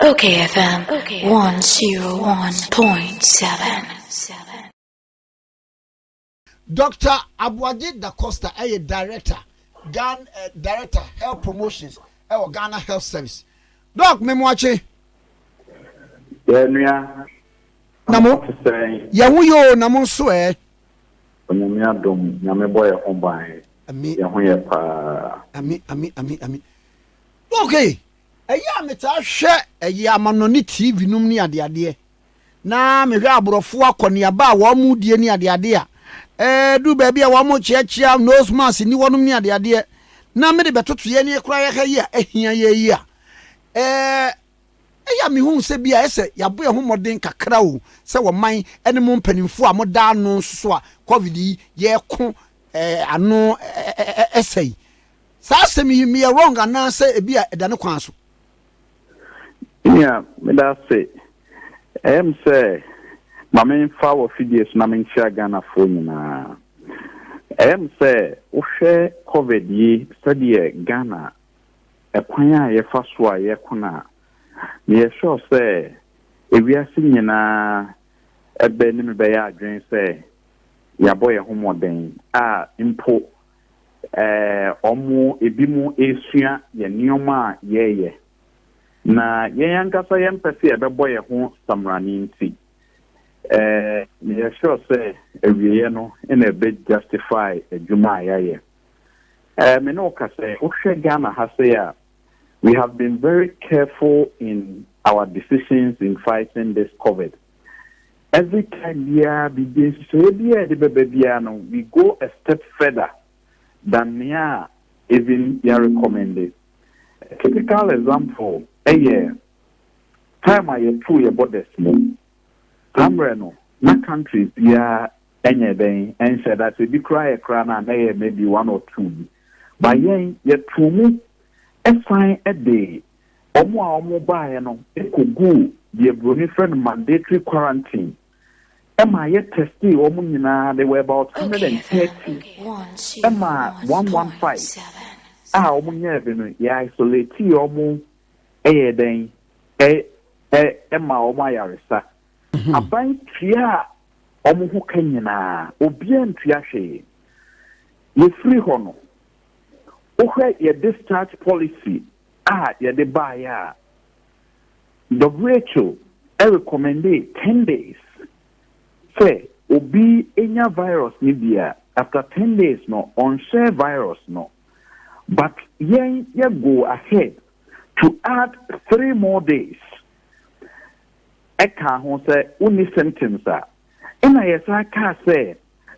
Okay FM 101.7. Doctor Aboagye Da Costa ɛyɛ director Ghana uh, eh, director health promotions ɛwɔ Ghana health service. Doc Memoakye. Yɛnua. Na mo yɛn ho yɛ o na mo nso ɛ. Onyame adom nyame bɔ yɛn ho ban. Ami. Yɛn ho yɛ paa. Ami ami ami ami. Ok, ɛyɛ a metaa hwɛ ɛyɛ amanɔne TV nom ne adeadeɛ, na mehwɛ aborɔfoɔ akɔneaba a wɔn mo die ne adeadeɛ a, ɛɛduru baabi a wɔn mo kyeakyea nose mask ni hɔ nom ne adeadeɛ, na mede bɛtoto yɛn ne koraa yɛha yi a ɛhia yɛn yi a, ɛɛ, ɛyɛ a mehu sɛ bi a ɛyɛ sɛ yɛabɔ yɛn ho mmɔden kakra o, sɛ ɔman ɛne mo mpaninfoɔ a moda ano nso so a covid yi yɛɛko ɛɛ ano ɛɛ ɛsɛe. Saa asɛm yi meyɛ wrong anaa sɛ ebi a ɛda ne kwan so? Nea meda ase. Ɛyɛ me sɛ ma memfa wɔ fidie so na menkyea Ghanafoɔ nyinaa. Ɛyɛ me sɛ wohwɛ covid yi sɛdeɛ Ghana ɛkwan a yɛfa so a yɛko no a, meyɛ sure sɛ ewiase nyinaa ɛbɛ ne me bɛyɛ adwene sɛ yɛabɔ yɛn ho mmɔden a mpo Ɛɛ, wɔn ebinom resua yɛn nneɛma a yɛreyɛ, na yɛn ankasa yɛmpɛ sɛ yɛbɛbɔ yɛn ho samena no nti, ɛɛ, yɛyɛ sure sɛ awieeɛ no na ɛbɛ justify adwuma a yɛayɛ. Ɛɛ, me ne wo ka sɛ, wohwɛ Ghana ha sei a, we have been very careful in our decisions in fighting this COVID. Every time biara biribi nhyehyɛeɛ biara a yɛde bɛba biara no, we go a step further than nea even yɛarecommende. A typical example yɛ time a yɛtoo yɛn borders mu. Saa mmerɛ no, na countries biara nyɛ dɛn, nhyɛ da. Sɛ ebi koraa yɛ koraa no a, na ɛyɛ maybe one or two bi. But yɛn, yɛtoo mu san de Wɔn a wɔbaeɛ no kɔguu deɛ buroni frɛ no mandatory quarantine ɛmaa yɛ testee wɔn nyinaa, they were about hundred and thirty ɛmaa one one five a wɔn nyɛɛ bi no yɛ isolatee wɔn ɛyɛ dɛn ɛ ɛ ɛmaa wɔn ayaresa mhm. aban tuaa wɔn ho ka nyinaa obiara ntua hwee yɛfiri hɔ no wohwɛ yɛ discharge policy a yɛde baeɛ a, who recommendee ten days sɛ obi nya virus no bi a, after ten days no ɔnhyɛ virus no, but yɛn yɛ go ahead to add three more days ɛkaa ho sɛ wonni symptoms a, ɛna yɛsan kaa sɛ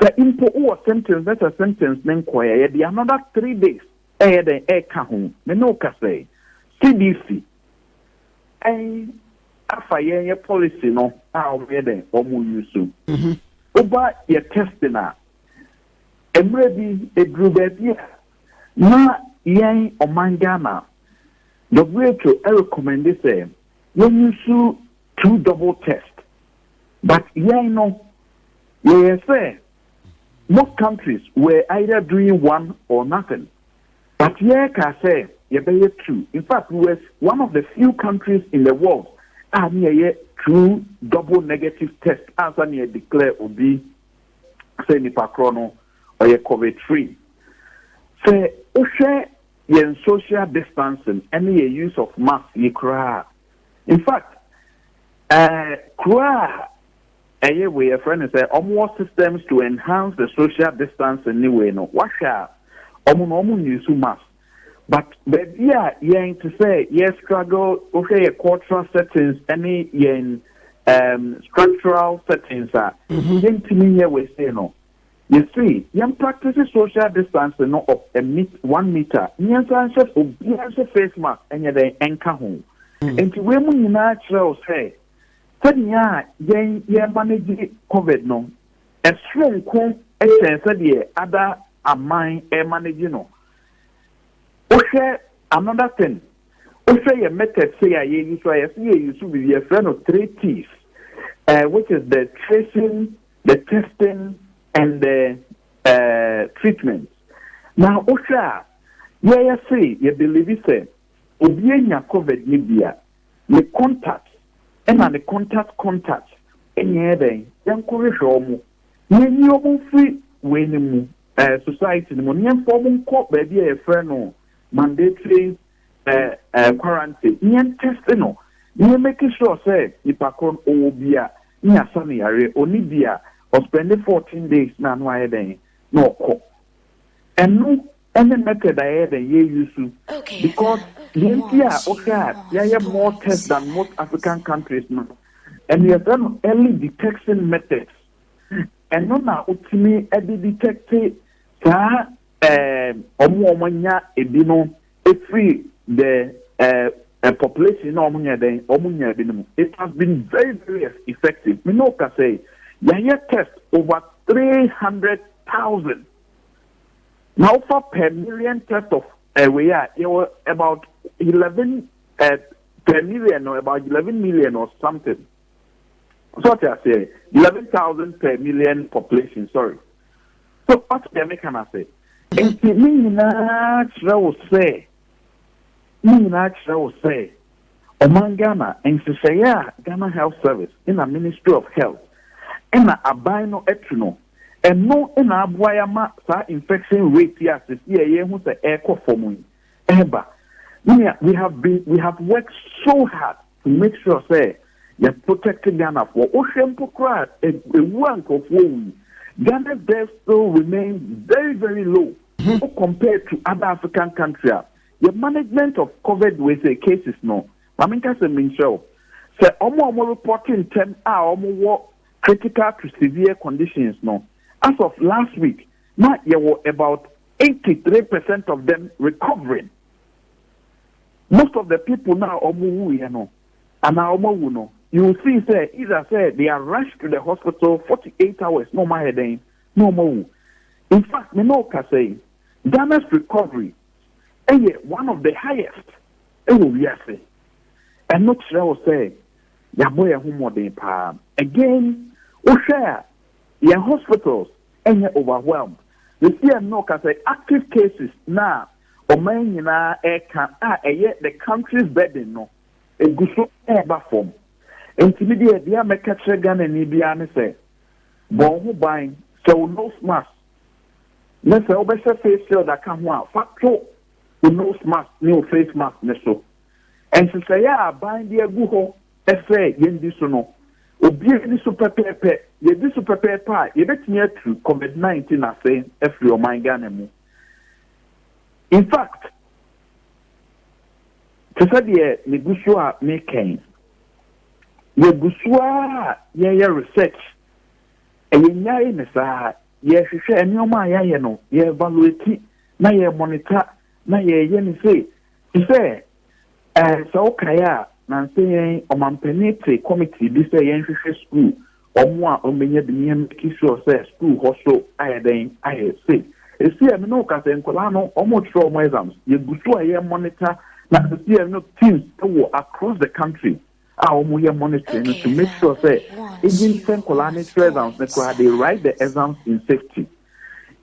sɛ mpo wowɔ symptoms na sɛ symptoms no nkɔɛ a, yɛde another three days reyɛ dɛn reka ho? Me ne wo kasa yi, CDC afa yɛn yɛ policy no a wɔyɛ dɛn wɔnwusu. Mhm. Woba yɛ testing a, mmerɛ bi ɛduru baabi a na yɛn ɔman Ghana WHO ɛrecommende sɛ yɛnwusu two double test but yɛn no yɛyɛ sɛ Most countries were either doing one or nothing but yɛkaa sɛ yɛbɛyɛ two. In fact we were one of the few countries in the world a ne yɛyɛ two double negative test ansa ne yɛ declare obi sɛ nipa korɔ no ɔyɛ covid free. Sɛ wohwɛ yɛn social distancing ne yɛ use of mask yi koraa a, in fact eh, kuro a Ɛyɛ wei yɛfrɛ no sɛ ɔmo wɔ systems to enhance the social distancing ne wei no wahwɛ a ɔmo no ɔmo use mask but baabi a yɛn te sɛ yɛ struggle wohwɛ yɛ cultural settings ɛne yɛn um, structural settings a mhm. yɛntumi nyɛ wei sei no yɛsi yɛn practice social distancing no of a meet one meter mmiɛnsa nhyɛ obiara nhyɛ face mask ɛnyɛ dɛn ɛnka ho mhm. nti wei mu nyinaa kyerɛw sɛ Sɛnea yɛn yɛmanegye covid no, ɛsoronko kyɛn sɛdeɛ ada aman remanegye no. Wohwɛ another thing, wohwɛ yɛn methods sei a yɛ use a yɛse yɛ use biribi yɛfrɛ no three T's eh, which is the tracing, the testing and the eh, treatment. Na wohwɛ a yɛyɛ se yɛ believe sɛ obi anya covid no bi a, Ne contact na ne contact contact nyɛɛ dɛn? Yɛnkɔ hwehwɛ wɔn na yɛnyi wɔn mfiri wei no mu, eh, society no mu, na yɛmfa wɔn nkɔ baabi a yɛfrɛ no mandatory eh, eh, quarantine, na yɛntɛste no, na yɛmake sure sɛ nipa koro no ɔwɔ bi a, na yɛasa no yareɛ, ɔni bi a, ɔspɛnde 14 days na ano ayɛ dɛn na ɔkɔ. Ɛno Ɛne method a yɛyɛ dɛn yɛ use because deɛ nti a wohwɛ a yɛayɛ more test than most African countries no ɛno yɛfrɛ no early detection methods ɛno na wotumi de detecte saa wɔn a wɔanya ebi no efiri the uh, population na wɔn nyɛ dɛn wɔn nya ebi no mu it has been very very effective me na ɔka sɛ yɛayɛ test over three hundred thousand. Na wofa per million test of eh, wei a yɛwɔ about eleven eh, per million no about eleven million or something so ɔte aseɛ eleven thousand per million population sorry so ɔte deɛ meka no ase nti ne nyinaa kyerɛ wo sɛ ne nyinaa kyerɛ wo sɛ Ɔman Ghana nhyehyɛeɛ a Ghana Health Service ɛna Ministry of Health ɛna aban no atu no, ɛno ɛna aboa yɛ ama saa infection rate yi a sɛsi a yɛhu sɛ ɛrekɔ fam yi ɛreba. Me nua, we have been, we have worked so hard to make sure sɛ yɛ protect Ghanafoɔ. Wohwɛ mpo koraa a, ɛwuo a nkorɔfoɔ wu yi, Ghana's death still remain very very low, wo compare to other African country a. Yɛ management of covid wei sɛ cases no ma me nka sɛ menkyerɛ wo sɛ ɔmo a ɔmo report ntɛm a ɔmo wɔ critical to severe conditions no as of last week na yɛ wɔ about 83 percent of them recovering most of the people na ɔmo wu yɛ no anaa ɔmo awu no you will see sɛ either sɛ they are rushed to the hospital 48 hours na ɔmo ayɛ dɛn na ɔmo awu in fact me na ɔkasa yi Ghana's recovery yɛ one of the highest wɔ wiase. Ɛno kyerɛ wo sɛ yɛabɔ yɛn ho mmɔden paa. Again, wohwɛ a yɛn hospitals nyɛ overwhelmed. Seesei ɛnnɛ ɔka sɛ active cases no a ɔman nyinaa reka a ɛyɛ the country's burden no, ɛgu so reba fam. Nti me deɛ deɛ mɛka kyerɛ Ghanani biara ne sɛ, bɔ wo ho ban, hyɛ wo nose mask, Na sɛ wobɛhyɛ face shield aka ho a, fa to wo nose mask ne wo face mask no so. Nhyehyɛeɛ a aban de agu hɔ sɛ yɛndi so no, obiara di so pɛpɛɛpɛ. Yɛdi so pɛpɛɛpɛ a, yɛbɛtumi atu Covid 19 ase afiri ɔman Ghana mu. In fact, te sɛ deɛ megu so a meka yi, yɛgu so ara a yɛyɛ research Yɛnnyae ne saa. Yɛhwehwɛ nneɛma a yɛayɛ no, yɛevaluate na yɛmonita na yɛyɛ no sei. Te sɛ, ɛɛ, sɛ wokae a, nnansa yɛn ɔmampanin te kɔmiti bi sɛ yɛnhwehwɛ sukuu, wɔn a wɔbɛnya bi ne yɛmmeki sure sɛ sukuu hɔ so ayɛ dɛn, ayɛ sei. Ɛsi a me ne wo ka sɛ nkwadaa no, wɔrekyerɛ wɔn exams, yɛgu so a yɛmonita na ɛsi a no teams wɔ across the country a wɔn yɛ monitoring no to make sure sɛ even sɛ nkɔlaa ne kyerɛ exams no koraa they write the exams in safety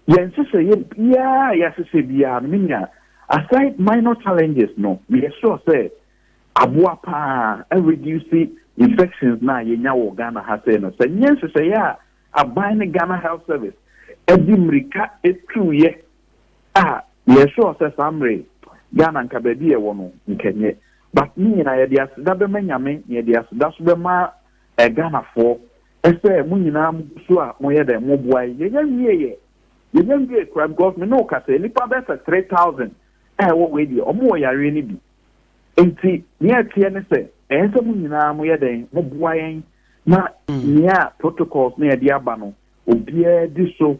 yɛn nhyehyɛeɛ biara a yɛahyehyɛ biara no menua aside minor challenges no meyɛ sure sɛ aboa paa reduce infections na yɛnya wɔ ghana ha sɛ no sɛ nyɛ nhyehyɛeɛ a aban ne ghana health service ɛde mmirika ɛtuuyɛ Ah yɛ sure sɛ saa mmere Ghana nka baabi yɛ wɔ no nka ɛnyɛ but ne nyinaa yɛde aseda bɛma Nyame na yɛde aseda so bɛma eh Ghanafoɔ ɛsɛ mo nyinaa mo gu so a mo yɛ dɛ mo boa yɛ yɛnya nwie yɛ yɛnya nwie kura because me ne wo kasa nnipa bɛɛ sɛ 3000 a ɛwɔ wei deɛ ɔmo wɔ yareɛ no bi nti nea ɛteɛ ne sɛ ɛyɛ sɛ mo nyinaa mo yɛ dɛ mo boa yɛn na nea protocols na yɛde aba no obiara di so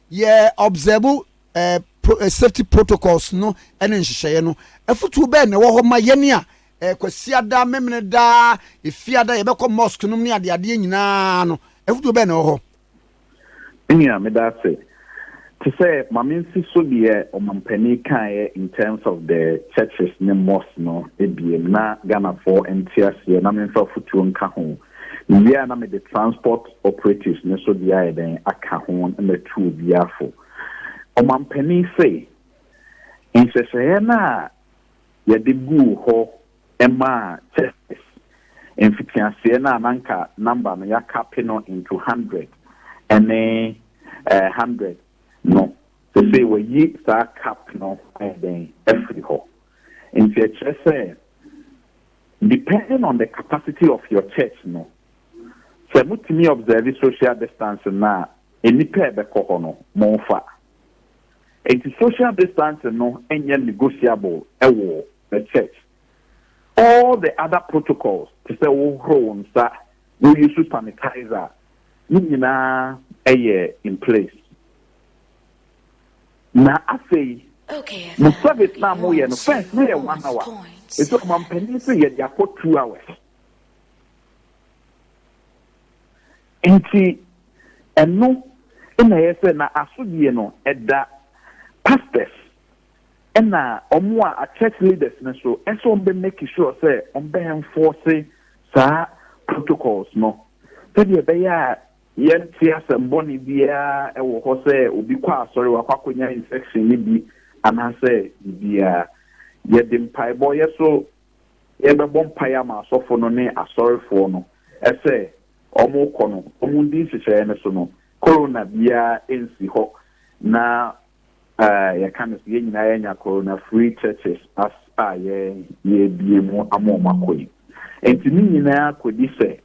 Yɛ observe eh safety protocols no ne nhyehyɛeɛ no. Afutuo bɛn na ɛwɔ hɔ ma yɛn a eh Kwasiada, Memeneda, Efiada yɛbɛkɔ mosque nom ne adeadeɛ nyinaa no? Afutuo bɛn na ɛwɔ hɔ? Me nua, meda ase. Te sɛ Mame nsi so deɛ Ɔmampanin kaeɛ in terms of the churches ne mosques no biem na Ghanafoɔ nte aseɛ na memfa afutuo nka ho. Mewie a na mede transport operatives no nso deɛ ayɛ dɛn aka ho na matu obi afo. Ɔmampanin se nhyehyɛeɛ no a yɛde guu hɔ maa Churches mfitiaseɛ no a na anka number no yɛakape no into hundred ne eh, hundred no sesei wɔayi saa cap no ayɛ dɛn afiri hɔ. Nti ɛkyerɛ sɛ Depending on the capacity of your church no, sɛ motumi observe social distancing no a, nnipa a ɛbɛkɔ hɔ no, momfa. Enti social distancing no nyɛ negotiable wɔ the church. All the other protocols, te sɛ wohohoro wo nsa, wo use sanitizer, ne nyinaa yɛ in place. Na afei, mo service no a moyɛ no, first no yɛ one hour, ɛfiri sɛ ɔmampanin se yɛde akɔ two hours. Nti ɛno na ɛyɛ sɛ na asodie no ɛda pastors ɛna wɔn a church leaders no so ɛsɛ wɔn bɛ make sure sɛ wɔn bɛ enforce saa protocols no sɛdeɛ ɛbɛyɛ a Yɛnte asɛm bɔne biara wɔ hɔ sɛ obi kɔ asɔre wakɔ akɔnya infection no bi anaasɛ biribiara. Yɛde mpaebɔ, yɛ so yɛbɛbɔ mpaeɛ ama asɔfo no ne asɔrefoɔ no sɛ wɔkɔ no wɔndi nhyehyɛeɛ no so no, Corona biara nsi hɔ na yɛka no sɛ yɛn nyinaa yɛanya Corona free churches as a yɛrebue mu ama wɔn akɔ yi. Nti ne nyinaa kɔdi sɛ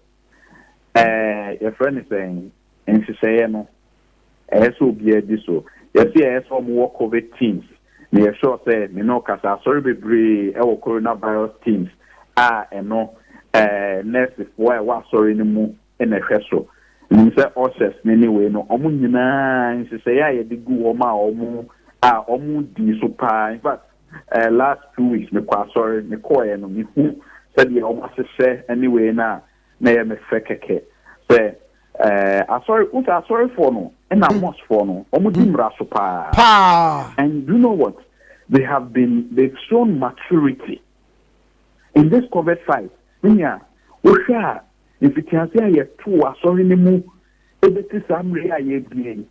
Ɛɛ, yɛfrɛ no sɛn? Nhyehyɛeɛ no, ɛyɛ sɛ obiara di so. Yɛse ɛyɛ sɛ wɔwɔ Covid teams, na yɛ sure sɛ me ne wo kasa asɔre bebree wɔ coronavirus teams a ɛno ɛɛ nɛɛsefoɔ a ɛwɔ asɔre no mu na ɛhwɛ so. Nim sɛ ushers no ne wei no, wɔn nyinaa nhyehyɛeɛ a yɛde gu wɔn a wɔn a wɔdii so paa, in fact, Eh, last two weeks me kɔ asɔre, me kɔɔɛ no me hu sɛdeɛ wɔn ahyehyɛ ɛne wei no a na ɛyɛ me fɛ kɛkɛ sɛ eh, asɔre wosɛ asɔrefoɔ no ɛna hmm. mosfoɔ no wɔn di hmm. mmara so paa and do you know what they have been they've shown maturity in this covid fight ne nea wohwɛ a mfitiase a yɛtoo asɔre no mu ɛbɛti saa mmerɛ a yɛbie yi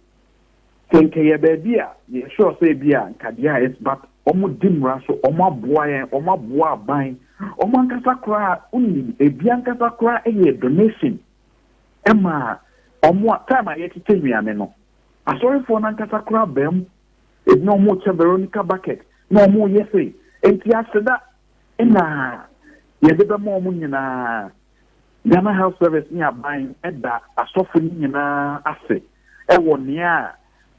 Sɛ nka ɛyɛ baabi a, yɛ sure sɛ ebi a nka deɛ it's but wɔn di mmara so, wɔn aboa yɛn, wɔn aboa aban, wɔn ankasa koraa wonim ebi ankasa koraa ɛyɛ donation ɛma wɔn a time a yɛkyekyɛ nnuane no, asɔrefoɔ no ankasa koraa bɛm, ebi na wɔn kyɛ Veronica bucket na wɔn yɛ sei, nti aseda ɛna yɛde bɛma wɔn nyinaa Ghana Health Service ne aban da asɔfo no nyinaa ase wɔ nea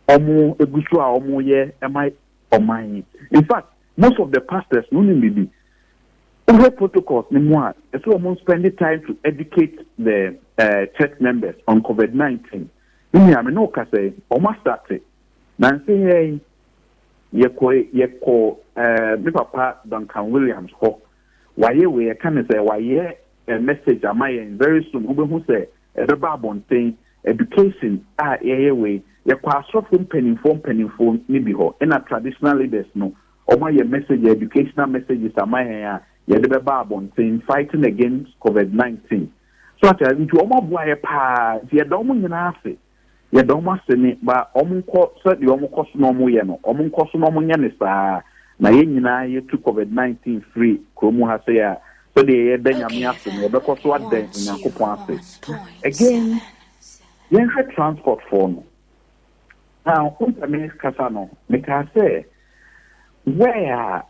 wɔgu so a wɔyɛ ma ɔman yi. In fact, most of the pastors no wonim biribi. Wohwɛ protocols no mu a, ɛsɛ wɔn spend time to educate the uh, church members on COVID-19. Ne nua me ne wo kasa yi, wɔn asate. Nanse yɛn yɛkɔ yɛkɔ uh, me papa Duncan Williams hɔ Wayɛ wei, ɛka ne sɛ wayɛ a message ama yɛn, very soon wobɛhu sɛ ɛbɛba abɔnten, education a yɛyɛ wei, yɛkɔ asɔfo mpaninfoɔ mpaninfoɔ no bi hɔ, ɛna traditional leaders no, wɔn ayɛ message a educational messages ama yɛn a yɛde bɛba abɔnten, fighting against covid 19. So ate a, nti wɔn aboa yɛ paa, nti yɛda wɔn nyinaa ase. Yɛda wɔn ase me ba, wɔnkɔ sɛ deɛ wɔkɔ so na wɔyɛ no, wɔnkɔ so na wɔnyɛ no saa, na yɛn nyinaa yɛtu Covid nineteen firi kuro mu ha sei a, sɛdeɛ yɛda Nyame ase no, yɛbɛkɔ so ada Onyankopɔn ase. Again, yɛnhwɛ transport foɔ no, now, wo mpɛ me kasa no, mekaa sɛ, where a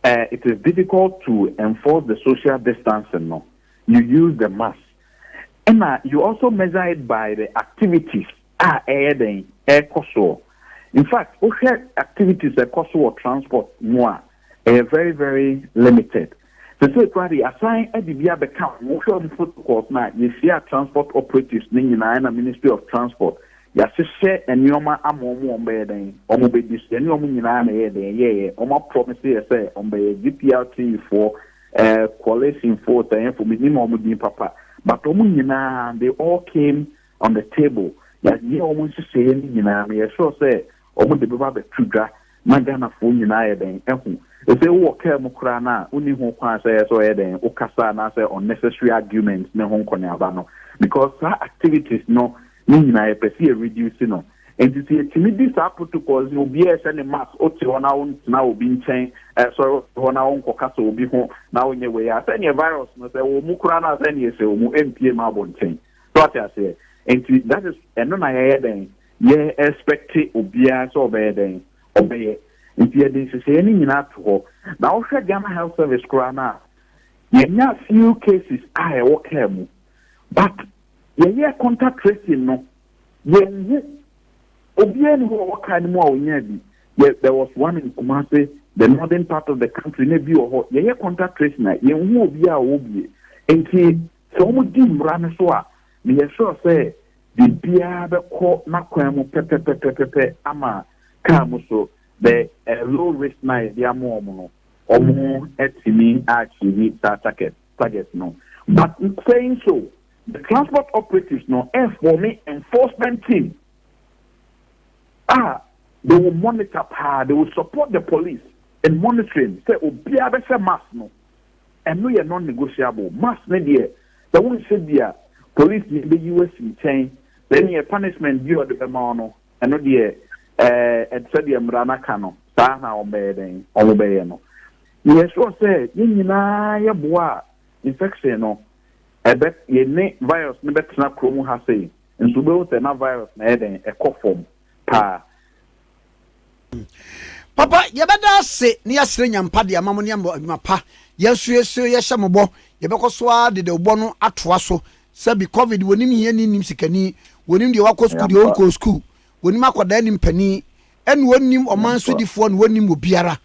Eh it is difficult to enforce the social distancing no you use the mask ɛna you also measure it by the activities a ɛyɛ dɛn ɛkɔ soɔ infact wohwɛ activities ɛkɔ so wɔ transport mu a ɛyɛ very very limited sese kura de asan ɛde bi abɛka wohwɛ wɔn protocols na yɛhyia transport operatives ne nyinaa ɛna ministry of transport Yahyehyɛ nneɛma ama wɔn wɔn bɛyɛ dɛn wɔn bɛdi so yɛne wɔn nyinaa na ɛyɛɛ dɛn yɛɛyɛ wɔn aprɔmese yɛ sɛ wɔn bɛyɛ GPRT foɔ eh coalition foɔ tɛɛfo me nim wɔn din papa but wɔn nyinaa they all came on the table yɛyɛ wɔn nhyehyɛeɛ no nyinaa meyɛ sure sɛ Ɔmo de bɛba abɛto dwa na Ghanafoɔ nyinaa ayɛ dɛn ahu. Sesei wowɔ car mu koraa no a wonni ho kwan sɛ ɛyɛ sɛ ɔyɛ dɛn wokasa anaasɛ unnecessary arguments ne ho nkɔneaba no because saa activities no ne nyinaa yɛpɛ sɛ yɛ reduce no. Nti sɛ yɛtumi di saa protocols no obiara ɛhyɛ ne mask wote hɔ na wontena obi nkyɛn ɛsɔre wote hɔ na wonkɔkasa obi ho na wonyɛ wei a sɛdeɛ virus no sɛ ɛwɔ mu koraa no a sɛdeɛ ɛsɛ wɔ mu ɛmpie ma abɔnten so ate aseɛ nti that is ɛno na yɛyɛ dɛn Yɛ expect obiara sɛ ɔbɛyɛ dɛn? Ɔbɛyɛ. Nti yɛde nhyehyɛeɛ no nyinaa to hɔ. Na wohwɛ Ghana Health Service koraa no a, yɛnya few cases a ɛwɔ car mu. But yɛyɛɛ contact tracing no, yɛnhu. Obiara nni hɔ a ɔwɔ car no mu a ɔnyaa bi. Yɛ, there was one in Kumasi, the northern part of the country, na ebi wɔ hɔ. Yɛyɛ contact tracing a, yɛnhu obiara a ɔwɔ bi. Nti. Sɛ wɔdi mmara no so a, meyɛ sure sɛ biribiara bɛkɔ n'akwan mu pɛpɛpɛpɛpɛpɛ ama car mu so the low risk no a yɛde ama wɔn no, wɔatumi a achieve saa target target no. But saying so, the transport operatives no form enforcement team a they will monitor paa, they will support the police in monitoring sɛ obiara bɛhyɛ mask no Ɛno yɛ non-negotiable. Mass no deɛ, sɛ wonhyɛ bi a, polisini bɛyi wo asi nkyɛn. Then yɛ punishment bi a ɔde bɛma wo no, ɛno deɛ, ɛɛ, sɛdeɛ mmara no aka no, saa ara na wɔbɛyɛ dɛn? Wɔbɛyɛ no. Yɛ sure sɛ yɛn nyinaa yɛboa a infection no, ɛbɛ, yɛne virus no bɛtena kurom ha sei. Nso wobɛhu sɛ na virus no ayɛ dɛn? Ɛkɔ fam paa. Papa, yɛbɛda ase na yɛasrɛ Nyampa de ama mo ne ama adwuma pa. Yɛn nso yɛsrɛ yɛhyɛ mo bɔ, yɛbɛkɔ so ara de dawubɔ no atoa so. Sɛbi, covid, wɔnim hiani nnim sikani, wɔnim deɛ wakɔ sukuu deɛ ɔnkɔɔ sukuu, wɔnim akwadaa nnim panin, ɛna wɔnim ɔman sodifoɔ na wɔnim obiara.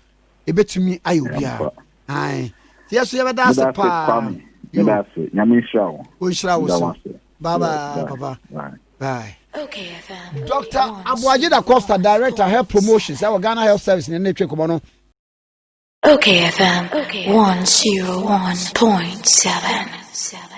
Ɛbɛtumi ayɛ obiara. Ae. Nti yɛn nso yɛbɛda ase paa. Yo. Ɔnhyira wo so. Bye bye, papa. Bye. Dɔkta Aboagye Da Costa, Director Health Promotions ɛwɔ Ghana Health Service na ɛna atwa nkɔmmɔ no. Okay FM 101.7